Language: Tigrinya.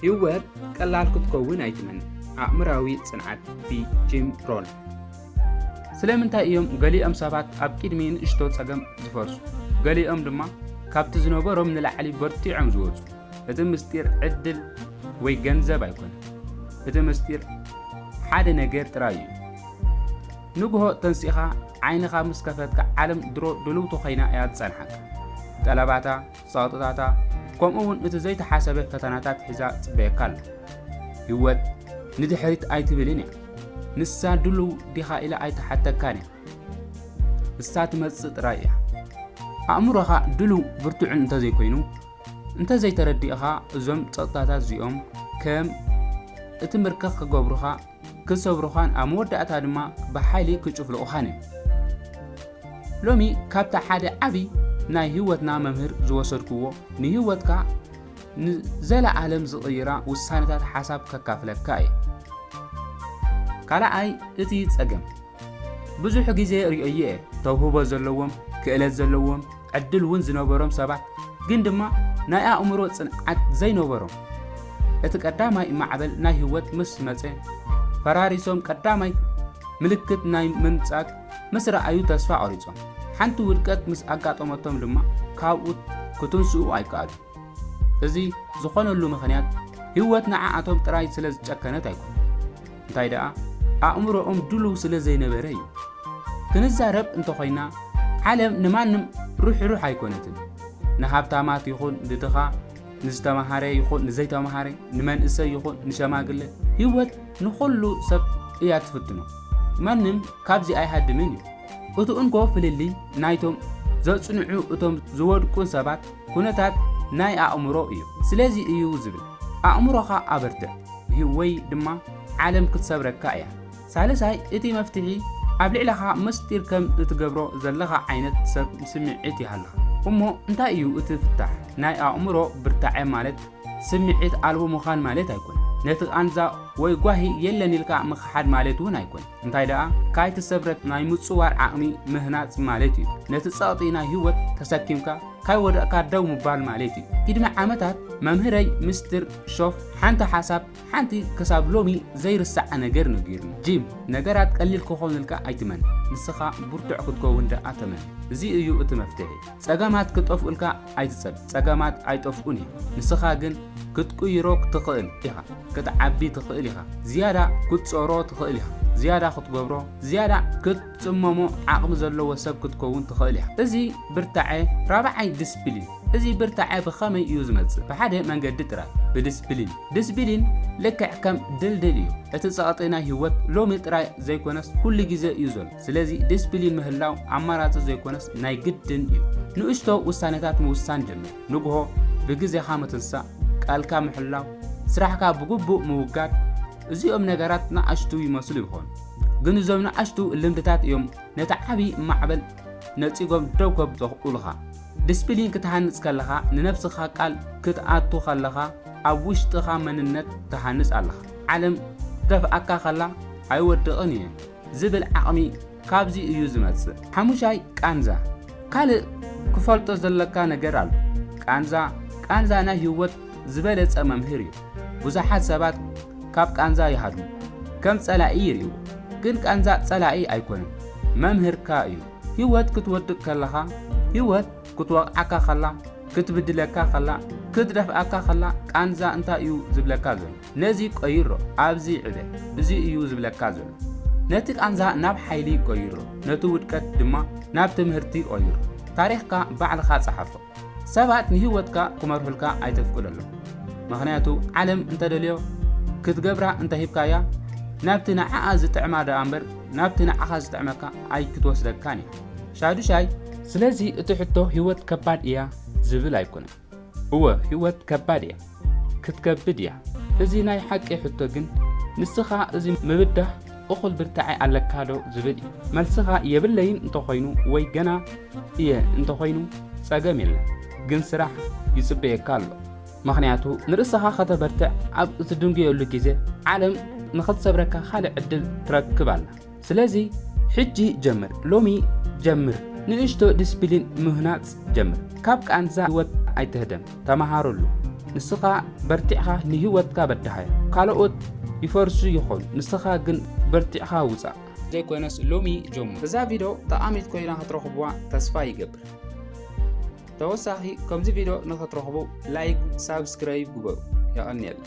ህይወት ቀላል ክትከውን ኣይትመን። ኣእምራዊ ጽንዓት ብጂም ሮን። ስለምንታይ እዮም ገሊኦም ሰባት ኣብ ቅድሚ ንእሽቶ ጸገም ዝፈርሱ፣ ገሊኦም ድማ ካብቲ ዝነበሮም ንላዕሊ በርቲዖም ዝወጹ? እቲ ምስጢር ዕድል ወይ ገንዘብ ኣይኮነን። እቲ ምስጢር ሓደ ነገር ጥራይ እዩ። ንግሆ ተንሲኻ ዓይንኻ ምስ ከፈትካ ዓለም ድሮ ድልውቲ ኮይና እያ ዝጸንሓካ። ጠለባታ ጸቕጥታታ፣ ከምኡውን እቲ ዘይተሓሰበ ፈተናታት ሒዛ ትጽበየካ ኣላ። ህይወት ንድሕሪት ኣይትብልን እያ። ንሳ ድሉው ዲኻ ኢላ ኣይትሓተካን እያ። ንሳ ትመጽእ ጥራይ እያ። ኣእምሮኻ ድሉው ብርቱዕን እንተዘይኮይኑ፣ እንተዘይተረዲእኻ እዞም ጸቕጥታታት እዚኦም ከም እቲ ምርከኽ ክገብሩኻ ክሰብሩኻን ኣብ መወዳእታ ድማ ብሓይሊ ክጭፍልቑኻን እዮም። ሎሚ ካብታ ሓደ ዓቢ ናይ ህይወትና መምህር ዝወሰድክዎ ንህይወትካ ንዘለኣለም ዝቕይራ ውሳነታት ሓሳብ ከካፍለካ እየ። ካልኣይ እቲ ጸገም ብዙሕ ግዜ ሪኦዮ እየ ተውህቦ ዘለዎም ክእለት ዘለዎም ዕድል እውን ዝነበሮም ሰባት ግን ድማ ናይ ኣእምሮ ፅንዓት ዘይነበሮም እቲ ቀዳማይ ማዕበል ናይ ህይወት ምስ መፀ ፈራሪሶም ቀዳማይ ምልክት ናይ ምንጻግ ምስ ረኣዩ ተስፋ ቆሪጾም ሓንቲ ውድቀት ምስ ኣጋጠመቶም ድማ ካብኡ ክትንስኡ ኣይከኣሉ እዚ ዝኾነሉ ምኽንያት ህይወት ንዓኣቶም ጥራይ ስለ ዝጨከነት ኣይኮነ እንታይ ደኣ ኣእምሮኦም ድሉው ስለ ዘይነበረ እዩ። ክንዛረብ እንተኾይና ዓለም ንማንም ርሕሩሕ ኣይኮነትን። ንሃብታማት ይኹን ንድኻ፣ ንዝተማሃረ ይኹን ንዘይተማሃረ፣ ንመንእሰይ ይኹን ንሸማግለ ህይወት ንኹሉ ሰብ እያ ትፍትኖ። ማንም ካብዚ ኣይሃድምን እዩ። እቲ እንኮ ፍልልይ ናይቶም ዘጽንዑ እቶም ዝወድቁን ሰባት ኩነታት ናይ ኣእምሮ እዩ። ስለዚ እዩ ዝብል ኣእምሮኻ ኣበርትዕ። ወይ ድማ ዓለም ክትሰብረካ እያ። ሳልሳይ፣ እቲ መፍትሒ ኣብ ልዕለኻ መስጢር ከም እትገብሮ ዘለኻ ዓይነት ሰብ ስምዒት ይሃልኻ። እሞ እንታይ እዩ እቲ ፍታሕ? ናይ ኣእምሮ ብርታዐ ማለት ስምዒት ኣልቦ ምዃን ማለት ኣይኮነን። ነቲ ቃንዛ ወይ ጓሂ የለን ኢልካ ምኽሓድ ማለት እውን ኣይኮነን። እንታይ ደኣ ካይተሰብረት ናይ ምጽዋር ዓቕሚ ምህናጽ ማለት እዩ። ነቲ ጸቕጢ ናይ ህይወት ተሰኪምካ ካይወደቕካ ደው ምባል ማለት እዩ። ቅድሚ ዓመታት መምህረይ ምስትር ሾፍ ሓንቲ ሓሳብ ሓንቲ ክሳብ ሎሚ ዘይርሳዓ ነገር ነጊሩኒ። ጂም፣ ነገራት ቀሊል ክኾኑልካ ኣይትመን፣ ንስኻ ብርቱዕ ክትከውን ደኣ ተመን። እዚ እዩ እቲ መፍትሒ። ጸገማት ክጠፍኡልካ ኣይትጸብ፣ ጸገማት ኣይጠፍኡን እዮም። ንስኻ ግን ክትቅይሮ ትኽእል ኢኻ፣ ክትዓቢ ትኽእል ኢኻ፣ ዝያዳ ክትጾሮ ትኽእል ኢኻ፣ ዝያዳ ክትገብሮ፣ ዝያዳ ክትጽመሞ ዓቕሚ ዘለዎ ሰብ ክትከውን ትኽእል ኢኻ። እዚ ብርታዐ ራብዓይ ድስፕሊን እዚ ብርታዐ ብኸመይ እዩ ዝመጽእ? ብሓደ መንገዲ ጥራይ፣ ብድስፕሊን። ድስፕሊን ልክዕ ከም ድልድል እዩ፣ እቲ ጸቕጢ ናይ ህይወት ሎሚ ጥራይ ዘይኮነስ ኩሉ ግዜ እዩ ዘሎ። ስለዚ ዲስፕሊን ምህላው ኣማራጺ ዘይኮነስ ናይ ግድን እዩ። ንእሽቶ ውሳኔታት ምውሳን ጀምር፣ ንግሆ ብግዜኻ ምትንሳእ፣ ቃልካ ምሕላው፣ ስራሕካ ብግቡእ ምውጋድ፣ እዚኦም ነገራት ንኣሽቱ ይመስሉ ይኾኑ፣ ግን እዞም ንኣሽቱ ልምድታት እዮም ነቲ ዓቢ ማዕበል ነጺጎም ደው ከብጽሑልኻ። ዲስፕሊን ክትሃንጽ ከለኻ ንነብስኻ ቃል ክትኣቱ ከለኻ ኣብ ውሽጥኻ መንነት ትሃንጽ ኣለኻ። ዓለም ክትደፍኣካ ከላ ኣይወድቕን እየ። ዝብል ዓቕሚ ካብዚ እዩ ዝመጽእ። ሓሙሻይ፣ ቃንዛ። ካልእ ክፈልጦ ዘለካ ነገር ኣሎ። ቃንዛ፣ ቃንዛ ናይ ህይወት ዝበለጸ መምህር እዩ። ብዙሓት ሰባት ካብ ቃንዛ ይሃድሙ። ከም ጸላኢ ይርእይዎ። ግን ቃንዛ ጸላኢ ኣይኮነን። መምህርካ እዩ። ህይወት ክትወድቅ ከለኻ፣ ህይወት ክትወቕዓካ ከላ፣ ክትብድለካ ከላ፣ ክትደፍኣካ ከላ ቃንዛ እንታይ እዩ ዝብለካ ዘሎ? ነዚ ቀይሮ ኣብዚ ዕበ እዚ እዩ ዝብለካ ዘሎ ነቲ ቃንዛ ናብ ሓይሊ ቀይሮ ነቲ ውድቀት ድማ ናብ ትምህርቲ ቀይሮ ታሪኽካ ባዕልኻ ጸሓፎ ሰባት ንህይወትካ ክመርሑልካ ኣይተፍቅደሎም ምክንያቱ ዓለም እንተደልዮ ክትገብራ እንተሂብካያ ናብቲ ንዓኣ ዝጥዕማ ደኣ እምበር ናብቲ ንዓኻ ዝጥዕመካ ኣይክትወስደካን እያ ሻዱሻይ ስለዚ እቲ ሕቶ ህይወት ከባድ እያ ዝብል ኣይኮነን እወ ህይወት ከባድ እያ ክትከብድ እያ እዚ ናይ ሓቂ ሕቶ ግን ንስኻ እዚ ምብዳህ እኹል ብርታዐ ኣለካ ዶ ዝብል እዩ መልስኻ የብለይን እንተኾይኑ ወይ ገና እየ እንተኾይኑ ጸገም የለን ግን ስራሕ ይጽበየካ ኣሎ ምክንያቱ ንርእስኻ ከተበርትዕ ኣብ እትድንጉየሉ ግዜ ዓለም ንኽትሰብረካ ካልእ ዕድል ትረክብ ኣላ ስለዚ ሕጂ ጀምር ሎሚ ጀምር ንእሽቶ ድስፒሊን ምህናጽ ጀምር ካብ ቃንዛ ሂወት ኣይትህደም ተማሃረሉ ንስኻ በርቲዕኻ ንሂወትካ በዳሃዮ ካሎኦት ይፈርሱ ይኾኑ ንስኻ ግን በርቲዕኻ ውጻእ ዘይኮነስ ሎሚ ጀምር። እዛ ቪድዮ ጠቓሚት ኮይና ክትረኽቡዋ ተስፋ ይገብር። ተወሳኺ ከምዚ ቪድዮ ንኽትረኽቡ ላይክ፣ ሳብስክራይብ ግበሩ። የቐንየልና።